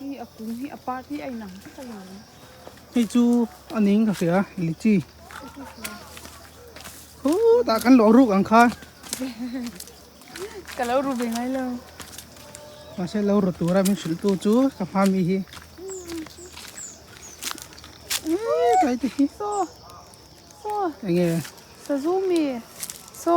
Hi a kum hi a part hi a inang vek a ni. Hei chu a ning ka hria lichi. Hu ta kan lo ruk ang kha. Ka lo ru ve ngai lo. Ma se lo ru tura min sil tu chu ka hma mi hi. Ei kai ti hi. So. So. Enge. Sa zu mi. So.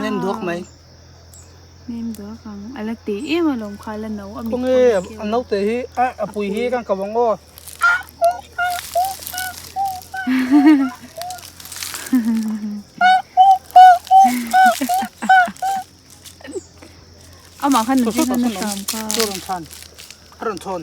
nem duak mai nem duak ang ala te em a lom kha la no a mi nge a no te hi a a pui hi kan ka wang o ama khan ni khan na sam kha ron than ron thon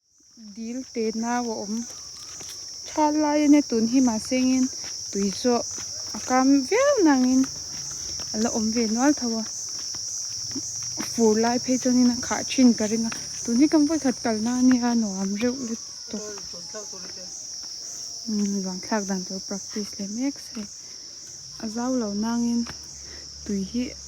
Dil pe nau a awm tha lai ania tun hi mahsengin tui zawh a kam viau nangin a la awm ve nual tho a, a fur lai phei chuanin a khah thin ka ring a, tun hi kan vawi khat kalna ania nuam reuh let tawh luan thlak dan tur practice leh mek se a zau lo nangin tui hi.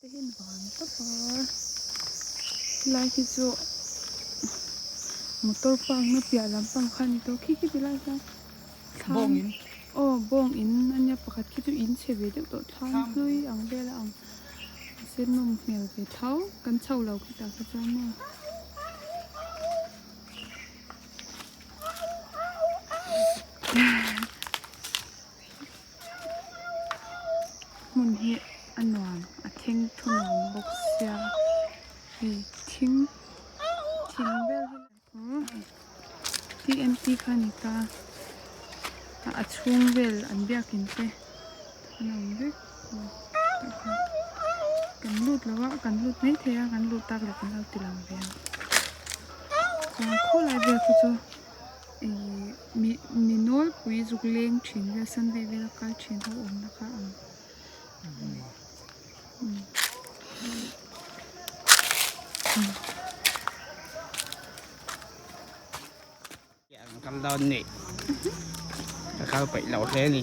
Te hian vang tapa helai khi chu motor park na piah lam pang kha ani tawh khi khi ti lai hian thlang aw bawng in ania pakhat khi chu in chhe ve deuh tawh thlang hlui ang vel a ang a sen nawm hmel ve tho kan chho lo khi tah khi chuan maw hmun hi a nuam a thing thunuam bawk sia hei thing thing vel hi aw hei hi empty kha a ni ta a chhung vel an biakin te an awm vek kan lut lo a kan lut mai thei a kan lut tak leh kan lo ti lo ve a chuan khawlai vel pawh chu mi mi nawlpui zuk leng thin vel san deuh vel a kal thin ho awmna kha a ang kam dâwn nih ka kal paih loh hle a ni.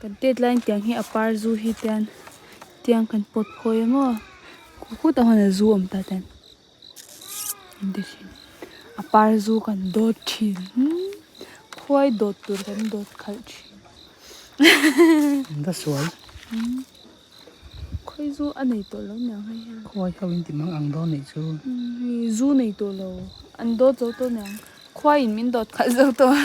Kan deadline tiang hi a par zu hi tian tiang kan pawt phawi em aw khut a huna zu awm ta ten in ti thin a par zu kan dawt thin khuai dawt tur kan dawt khalh thin in va sual khawi zu a nei tawh lo niang hai hian khuai ho in ti mang ang dawn nei chu zu nei tawh lo an dawt zo tawh niang khuai in min dawt khalh zo tawh a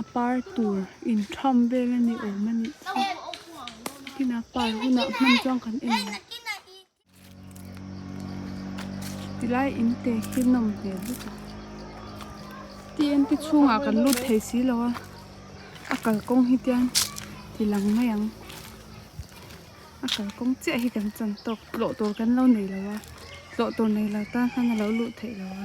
A par tur in tham vel a ni awm a nih chu tihna par hunah hman chuan kan en ang ti lai in te hi nawm hmel vek a t m te chhung ah kan lut thei si lo a a kal kawng hi tiang ti lang mai ang a kal kawng chiah hi kan chan tawk tlawh tur kan lo nei lo a tlawh tur nei lo tan khan a lo lut theih lo a.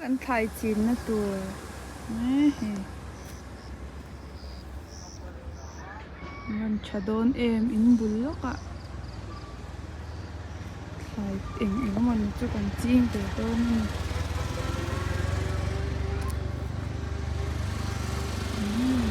Kan thlai chinna tur nge hi? Rawn tha dawn em in bul lawkah thlai eng eng emawni chu kan ching ve dawn a ni. Umm.